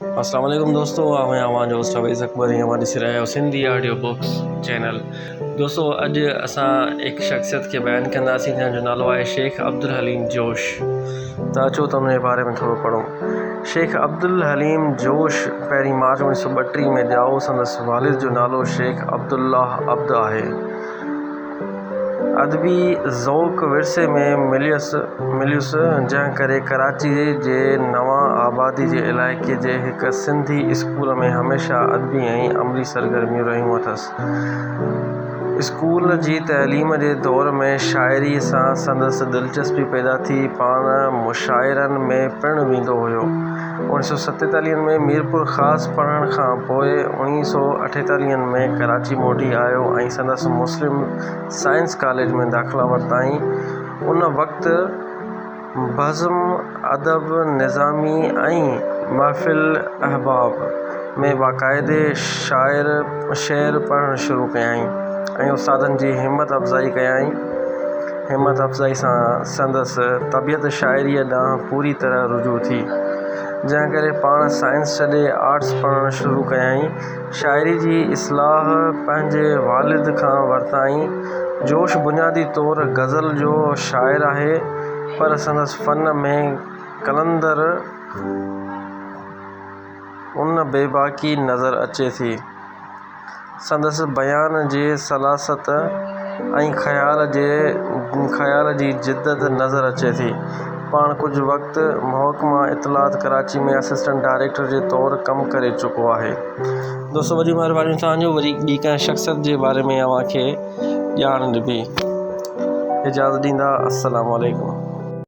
اسلام عليڪم دوستو آئون آهيان اوهان جو هوسٽ اويس اڪبر ۽ اوهان ڏسي رهيا آهيو سنڌي آڊيو بڪس چينل دوستو اڄ اسان هڪ شخصيت کي بيان ڪنداسين جنهن جو نالو آهي شيخ عبدالحليم جوش ته اچو ته ان جي باري ۾ ٿورو پڙهون شيخ عبدالحليم جوش پهرين مارچ اوڻيهه سو ٻٽيهه ۾ ڄائو سندس والد جو نالو شيخ عبدالله عبد آهي ادبي ذوق ورثي ۾ مليس مليس جنهن ڪري ڪراچي جي نوان آبادي جي علائقي جي هڪ سنڌي اسڪول ۾ هميشه ادبي ۽ عملي سرگرميون رهيون اٿس اسڪول جي تعليم جي دور ۾ شاعري سان سندس دلچسپي پيدا ٿي پاڻ مشاعرن ۾ پڻ ويندو هيو اڻ سؤ ستيتاليهن ۾ ميرپور خاص پڙهڻ کان پوء اڻيهن سؤ اٺيتاليهن ۾ ڪراچي موٽي آيو ۽ سندس مسلم سائنس ڪاليج ۾ داخلا ورتائين ان وقت بزم ادب نظامي ۽ محفل احباب ۾ باقاعدي شاعر شعر پڙهڻ شروع ڪيائين ۽ استادن جي همت افزائي ڪيائين همت افزائي سان سندس طبيعت شاعريء ڏانهن پوري طرح رجوع ٿي، جنهن ڪري پاڻ سائنس ڇڏي آرٽس پڙهڻ شروع ڪيائين. شاعريء جي اصلاح پنهنجي والد کان ورتائين. جوش بنيادي طور غزل جو شاعر آهي، پر سندس فن ۾ قلندر ان بيباڪي نظر اچي ٿي. سندس بيان جي سلاست ۽ خيال جي خيال جي جدت نظر اچي ٿي. پاڻ ڪجهه وقت محڪمه اطلاعات ڪراچي ۾ اسسٽنٽ ڊائريڪٽر جي طور ڪم ڪري چڪو آهي. دوستو وڏي مهرباني توهان جو وري ٻي ڪنهن شخصيت جي باري ۾ اوهان کي ڄاڻ ڏبي. اجازت ڏيندا السلام عليڪم.